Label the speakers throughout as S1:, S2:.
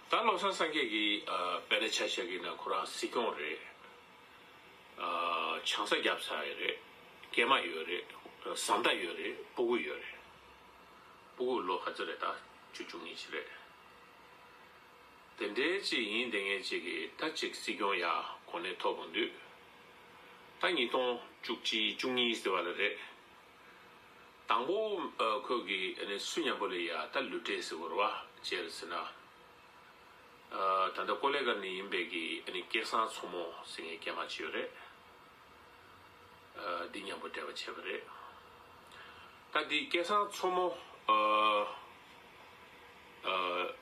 S1: ད་བློ་བཟང་སངས་རྒྱས་ཀྱིས་བལ་ལ་ཆ་བཞག་གི་ན་ཁོ་རང་སྲིད་སྐྱོང་རེད། ཆང་ས་རྒྱབ་ཚར་ཡོད་རེད། སྐྱེས་མ་ཡོད་རེད། བཟའ་ཟླ་ཡོད་རེད་སྤུ་གུ་ཡོད་རེད། སྤུ་གུ་ལོ་ག་ཚོད་རེད་ད་བཅུ་བཅུ་གཉིས་ཅི་རེད། དེ་འདྲའི་ཅིག་ཡིན་ལྟས་ངན་ཅིག་གིས་ད་ཅིག་སྲིད་སྐྱོང་ཡག་གོ་གནས་ཐོབ་འོང་དུས། ད་ཉིས་སྟོང་བཅུ་གཅིག་བཅུ་གཉིས་ཟེར་བ་ལ་རེད། དང་པོ། ཁོད་ཀྱི་ནི་སུ་མྱང་པོ་ལས་ཡ་ད་ལུས་བྲེས་སི་བོར་བ་ཅེར་སི་ན། ད་ད་ཀོ་ལེ་ཀར་ནི་ཡིན་པས་ཀྱི་ནི་སྐྱེ་སངས་མཚོ་མོ་སི་ངའི་སྐྱེ་མ་ཅི་ཡོད་རེད། འདི་མྱང་པོ་བྲེས་པ་ཆེ་བ་རེད། ད་འདི་སྐྱེ་སངས་མཚོ་མོ།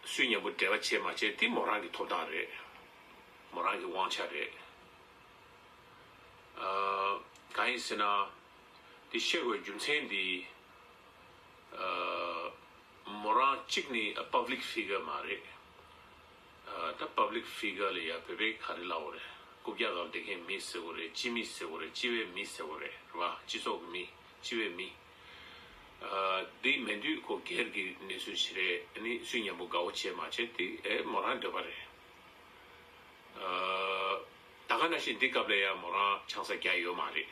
S1: སུས་མྱང་པོ་བྲེས་པ་ཆེ་མ་ཆེ་དི་མོ་རང་གི་ཐོབ་ཐང་རེད། མོ་རང་གི་དབང་ཆ་རེད། གང་ཡིན་སི་ན། དེ་བཤད་དགོས་རྒྱུ་མཚན་འདི། མོ་རང་གཅིག་ནི Public Figure མ་རེད། ད Public Figure ལ་ཡང་བོད་པའི་ག་རེ་ལའོ་རེད། སྐུ་བརྒྱ་གང་བདེ་མཁན་མི་ཟེར་གོ་རེད་སྤྱི་མི་ཟེར་གོ་རེད་སྤྱི་བའི་མི་ཟེར་གོ་རེད་རེད་པ་སྤྱི་ཚོགས་ཀྱི་མི་སྤྱི་བའི་མི། འདི་མེད་དུས་ཁོ་སྒེར་གྱི་གནས་ཚུལ་ཞིག་རེད་ནི་སུས་ཉམས་པོ་དགའ་བོ་བྱས་མ་བྱས་དེ་མོ་རང་འདོད་པ་རེད། ད་ག་ན་བཞིན་འདི་སྐབས་ལ་ཡང་མོ་རང་ཆང་ས་རྒྱག་ཡོད་མ་རེད།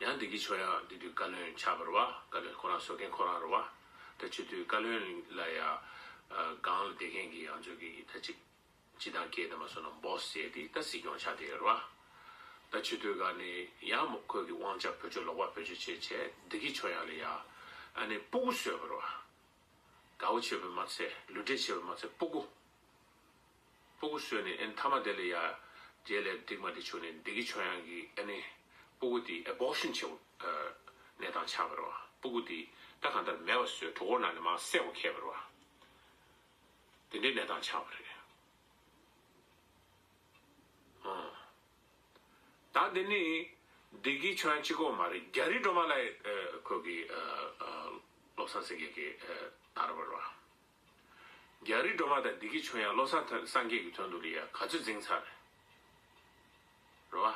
S1: ཡང་འདི་གི་ཆོ་ཡང་འདི་དུས་བཀའ་བློན་ཆགས་པར་བ་བཀའ་བློན་ཁོ་རང་བཟོ་མཁན་ཁོ་རང་རུ་བ། ད་ཕྱི་དུས་བཀའ་བློན་ལ་ཡང་སྒང་ལ་བསྡད་མཁན་གྱི་ཡང་བཟོ་གི་ད་ཅིག་སྤྱི་དང་སྐད་ད་མ་བཟོ་ན Boss ཟེར་དེ་ད་སྲིད་སྐྱོང་ཆགས་བསྡད་རུ་བ། ད་ཕྱི་དུས་ག་ནི་ཡང་མོ་ཁོས་གི་དབང་ཆ་བོད་ཆོས་ལོག་པ་བོད་ཆོས་བྱེད་བྱས་འདི་གི་ཆོ་ཡང་ལ་ཡང་ཨ་ནི་སྤུ་གུ་བཟོས་པར་བ། དགའ་བོ་བྱེད་པའི་མ་ཚད་ལུས་འབྲེལ་བྱེད་པའི་མ་ཚད་སྤུ་གུ། སྤུ་གུ་སོས་ནས་ཨེ་མཐའ་མ་དེ་ལས་ཡར། རྗེས་ལས་སྡིག་མ་དེ་བྱུང་ནས་བདེ་གི་ཆོ་ཡང་གི་ཨེ་ནི། སྤུ་གུ་དེས་ཨེ་བོགས་ཤིང་ཆེ་བ། ནད་དང་ཆགས་པར་བ། སྤུ་གུ་དེས་ད་གང་ལྟར་མེ་བ་སོས་གྲོ་གོར་ན་ནི་མ་བསད་བ་ཁད་པར་བ། དེ་འདྲའི་ནད་དང་ཆགས་པར་རེད། དང་དེ་ནི། བདེ་གི་ཆོ་ཡང་གཅིག་གོ་མ་རེད་རྒྱ་རི་སྒྲོལ་མ་ལ་ཨེ། ཁོས་གི། བློ་བཟང་སེང་གེ་གི། ད་ར་བར་བ། རྒྱ་རི་སྒྲོལ་མ་དང་སྡེ་དགེ་ཆོས་དབྱངས་བློ་བཟང་ཐོན་སངས་རྒྱས་ཀྱི་དོན་དུ་ལི་ཡ་ག་ཚོད་འཛིང་ཚར་རོ།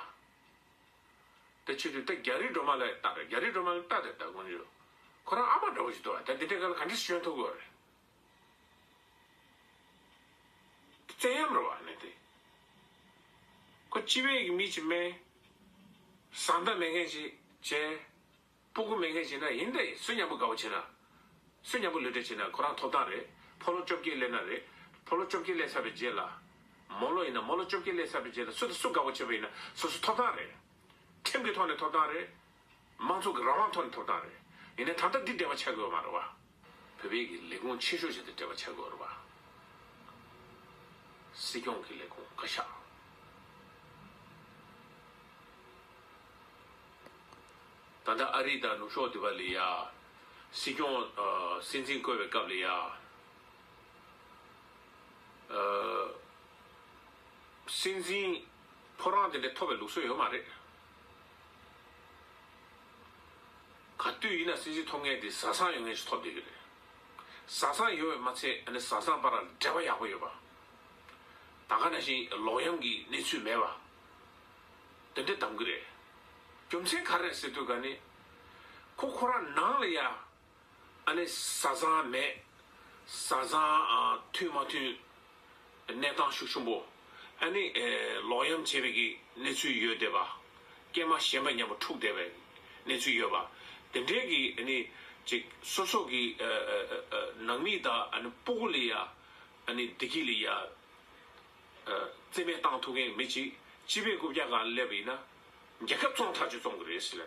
S1: ད་ཆོས་དུས་ད་རྒྱ་རི་སྒྲོལ་མ་ལ་ལྟ་ར་རྒྱ་རི་སྒྲོལ་མ་ལ་ལྟ་དེ་ད་དགོན་ཆོས་ཁོ་རང་ཨ་མ་འདྲ་བོ་ཞིག་འདུག་ཨ་ད་འདི་འདྲའི་ག་ལ་ག་འདྲའི་སི་ཞོན་ཐུབ་དགོས་རེད། དེ་བཙན་གཡམ་རེད་བ་ཨ་ནེ་དེ། ཁོ་སྤྱི་བེ་ཡི་མི་ཅིག་སྨད། བཟང་ལྟ་མེད་མཁན་ཅིག་བྱས། སྤོ་ཁུ་མེད་མཁན་བྱས་ན་ཡིན་ཏེ་གསོན་ཉམས་པོ་དགའ་བོ་བྱས་ན། གསོན་ཉམས་པོ་ལུས་འབྲེལ་བྱས་ན་ཁོ་རང་ཐོབ་ཐང་རེད་ཕོ་ལོ་བཅོ་བརྒྱད་སླེབས་ན་རེད་ཕོ་ལོ་བཅོ་བརྒྱད་སླེབས་ཚར་བའི་རྗེས་ལ། མོ་ལོ་ཡིན་ན་མོ་ལོ་བཅོ་བརྒྱད་སླེབས་ཚར་བའི་རྗེས་ལ་སུ་དང་སུ་དགའ་བོ་བྱས་པ་ཡིན་ན་སོ་སོ་ཐོབ་ཐང་རེད། ཁྲིམས་ཀྱི་ཐོག་ནས་ཐོབ་ཐང་རེད། མང་ཚོགས་ཀྱི་རང་དབང་ཐོག་ནས་ཐོབ་ཐང་རེད། ཡིན་ན་ད་ལྟ་འདི་བདེན་པ་ཆགས་དགོས་པ་མ་རེད་བ། བོད་པའི་གི་ལས་ཁུངས་ཆེ་ཤོས་བྱས་ཏེ་འབྲེལ་བ་བྱ་དགོས་རོགས་པ། སྲིད་སྐྱོང་གི་ལས་ཁུངས་བཀའ་ཤག། ད་ལྟ་ཨ་རི་དང་ནུབ་ཕྱོགས་འདི་བ་ལས་ཡ། སྲིད་སྐྱོང། སྲིད་འཛིན་བསྐོས་བའི་སྐབས་ལས་ཡ། སྲིད་འཛིན། ཕོ་རང་དེ་འདྲས་ཐོབ་པའི་ལུགས་སྲོལ་ཡོད་མ་རེད། ག་དུས་ཡིན་ན་སྲིད་འཛིན་ཐོབ་མཁན་དེ་བཟའ་ཚང་ཡོད་མཁན་ཞིག་ཐོབ་བསྡད་ཀྱི་རེད། བཟའ་ཚང་ཡོད་པའི་མ་ཚད་ཨ་ནི་བཟའ་ཚང་བར་འབྲེལ་བ་ཡག་པོ་ཡོད་པ། ད་ག་ནང་བཞིན་ལོག་གཡེམ་གྱི་གནས་ཚུལ་མེད་པ། དེ་འདྲས་གདམ་གྱི་རེད། རྒྱུ་མཚན་ག་རེད་ཟེར་དུས་ག་ནི། ཁོ་ཁོ་རང་ནང་ལ་ཡ། ཨ་ནི་བཟའ་ཚང་མེད། བཟའ་ཚང་མཐུན་མ་མཐུན། གནས་སྟངས་ཤུགས་ཆུང་པོ། ཨ་ནི། ལོག་གཡེམ་བྱས་པའི་གནས་ཚུལ་ཡོད་བསྡད་པ། སྐྱེས་མ་གཞན་པ་མཉམ་པོ་འཁྲུགས་བསྡད་པའི་གནས་ཚུལ་ཡོད་པ། དེ་འབྲེལ་གྱི་ཨ་ནི། ཅིག་སོ་སོ་གི་ནང་མི་དག་ཨ་ནི་སྤུ་གུ་ལི་ཡ། ཨ་ནི་བདེ་སྐྱིད་ལི་ཡ། བརྩི་མེད་བཏང་ཐུབ་མཁན་མེད་ཅིག་སྤྱི་པའི་རྐུབ་བཀྱག་གང་སླེབས་པ་ཡིན་ན། རྒྱལ་ཁབ་བཙོང་ཐག་གཅོད་བཙོང་གི་རེད་ཟེར་ལེ།